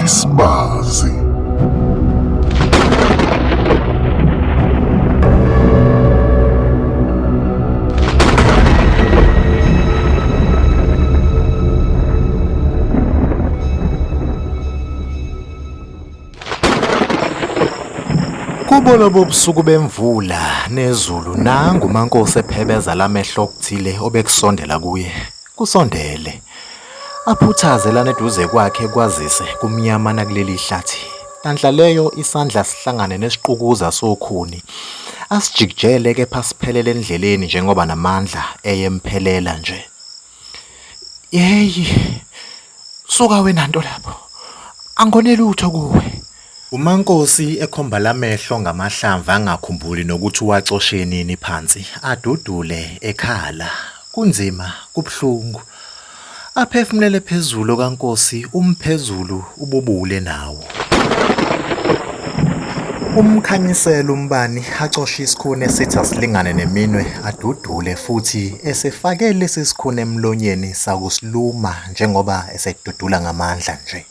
Isbazi. Kubona bobusuku bemvula nezulu nangu uMankosi ephebeza lamehlo okuthile obekusondela kuye. Kusondele. Aphuthaze lana eduze kwakhe kwazise kumnyama nakuleli hlathi. Nhlanhla leyo isandla sihlangane nesiqukuza sokhuni. Asijikijele kepha siphelele endleleni njengoba namandla eyemphelela nje. Yeyi. Suka wena nto lapho. Angone lutho kuwe. UMaNkosi ekhomba lamehlo ngamahlamvu angakhumbuli nokuthi uwacoshe nini phansi, adudule ekhala. Kunzima, kubuhlungu. Aphefumulele phezulu okaNkosi, umphezulu ububule nawo. Umkhanyisela umbani acoshe isikhuni esithi asilingane neminwe adudule futhi esefake lesi sikhuni emlonyeni sakusiluma njengoba esedudula ngamandla nje.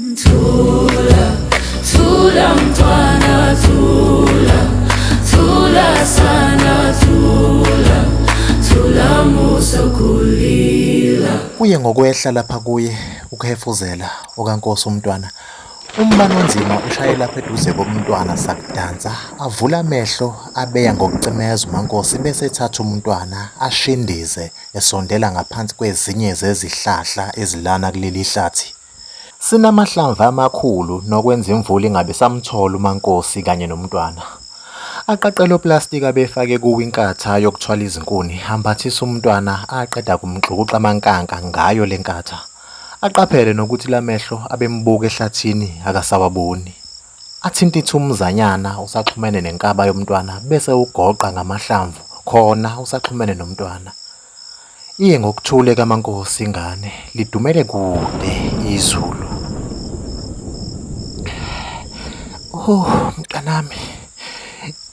Thula, thula mntwana, thula, thula sana, thula, thula musa kulila. Kuye ngokwehla lapha kuye ukuhefuzela okaNkosi umntwana. Umbani onzima ushaye lapha eduze komntwana sakudansa, avula amehlo abeya ngokucimeza uMankosi bese ethatha umntwana ashindize esondela ngaphansi kwezinye zezihlahla ezilana kuleli hlathi. Sinamahlamvu amakhulu nokwenza imvula ingabe isamthola uMaNkosi kanye noMntwana. Aqaqele oplastiki abefake kuwo inkatha yokuthwala izinkuni, ambathise uMntwana aqeda kumxukuxa amankanka ngayo le nkatha. Aqaphele nokuthi lamehlo abembuka ehlathini akasawaboni. Athinte ithumuzanyana usaxhumene nenkaba yoMntwana bese ugoqa ngamahlamvu khona usaxhumene noMntwana. Iye ngokuthule kaMankosi ingane lidumele kude izulu. Oh mntanami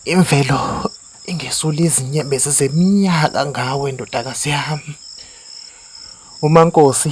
imvelo ingesula izinyembezi zeminyaka ngawe ndodakazi yami. UMankosi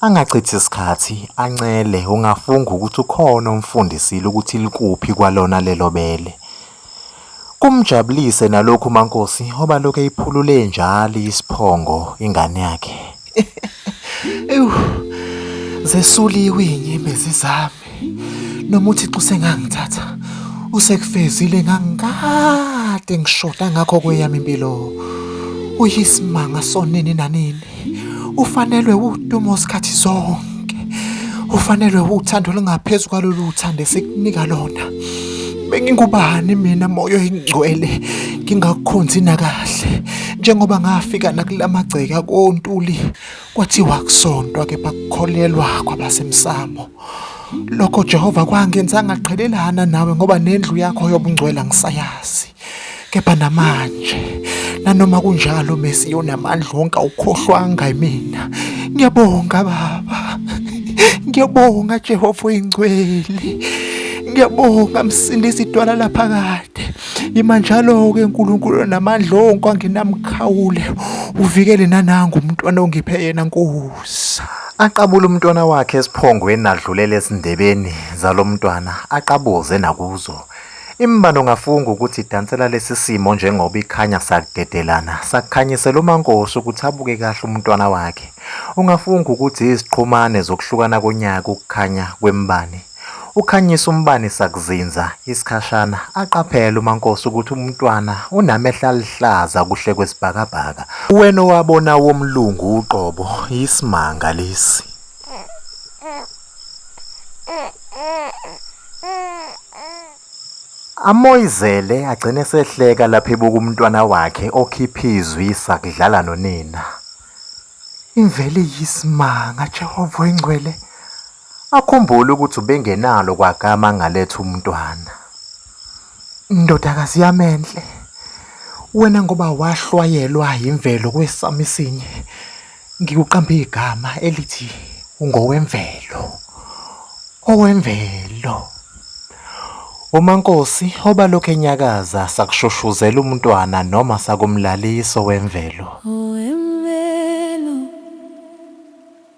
Angachithi sikhathi ancele ungafunga ukuthi ukhona omfundisile ukuthi likuphi kwalona lelo bele. Kumjabulise nalokhu uMaNkosi oba lokhu eyiphulule njalo isiphongo ingane yakhe. Ewu zesuliwe inyembezi zami. noma uthixo usengangithatha usekufezile ngangikade ngishoda ngakho kweyami impilo uyisimanga sonini nanini ufanelwe udumo sikhathi zonke ufanelwe uthando olungaphezu kwalolu uthando esikunika lona bengingubani mina moyo ingcwele ngingakukhonzi nakahle njengoba ngafika nakulamagceka kontuli Kwathiwa kusontwa kepha kukholelwa kwabasemsamo. Lokho Jehova kwangenza ngaqhelelana nawe ngoba nendlu yakho yobungcwela ngisayazi. Kepha namanje nanoma kunjalo Messi yonamandla wonke awukhohlwanga mina. Ngiyabonga baba. Ngiyabonga Jehova oyingcwele. Ngiyabonga msindisi idwala laphakade. Ima njalo-ke uNkulunkulu namandla onke angenamkhawule, uvikele nanangu umntwana ongiphe yena Nkosi. Aqabule umntwana wakhe esiphongweni adlulele ezindebeni zalo mntwana aqabuze nakuzo. Imbani ungafunga ukuthi idansela lesi simo njengoba ikhanya sakudedelana sakukhanyisela uMankosi ukuthi abuke kahle umntwana wakhe. Ungafunga ukuthi iziqhumane zokuhlukana konyaka ukukhanya kwembani. Ukhanyisa umbani sakuzinza isikhashana aqaphele uMankosi ukuthi umntwana unamehla aluhlaza kuhle kwesibhakabhaka. Uwena owabona womlungu uqobo yisimanga lesi. Amoyizele agcine sehleka lapho ebuka umntwana wakhe okhipha izwi sakudlala nonina. Imveli yisimanga Jehova oyingcwele. Akhumbule ukuthi ubengenalo kwagama angaletha umntwana. Ndodakazi yami enhle, wena ngoba wahlwayelwa yimvelo kwesami isinye, ngikuqambe igama elithi ungowemvelo. Owemvelo. UMaNkosi obalokhu enyakaza sakushushuzela umntwana noma sakumlalisa owemvelo.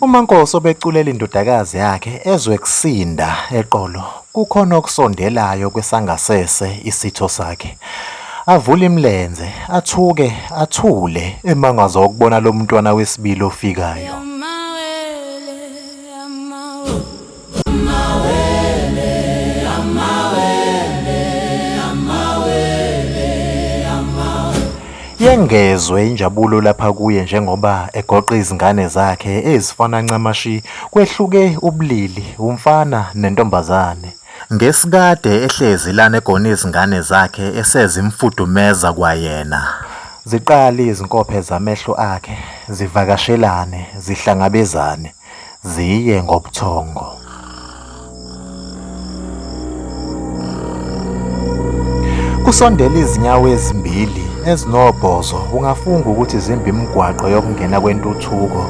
UMaNkosi obeculela indodakazi yakhe ezwe kusinda eqolo kukhona okusondelayo kwesangasese isitho sakhe. Avule imilenze, athuke, athule emangazwa ukubona lo mntwana wesibili ofikayo. Yengezwe injabulo lapha kuye njengoba egoqa izingane zakhe ezifana ncamashi kwehluke ubulili umfana nentombazane. Ngesikade ehlezi lana egona izingane zakhe esezimfudumeza kwayena. Ziqale izinkophe zamehlo akhe zivakashelane zihlangabezane. ziye ngobuthongo. Kusondela izinyawo ezimbili ezinobhozo ungafunga ukuthi zimba imigwaqo yokungena kwentuthuko.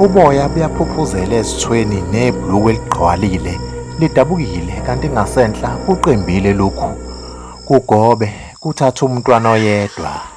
Uboya buyaphuphuzela ezithweni nebhluku eligqwalile lidabukile kanti ngasenhla kuqimbile lokhu. Kugobe kuthatha umntwana oyedwa.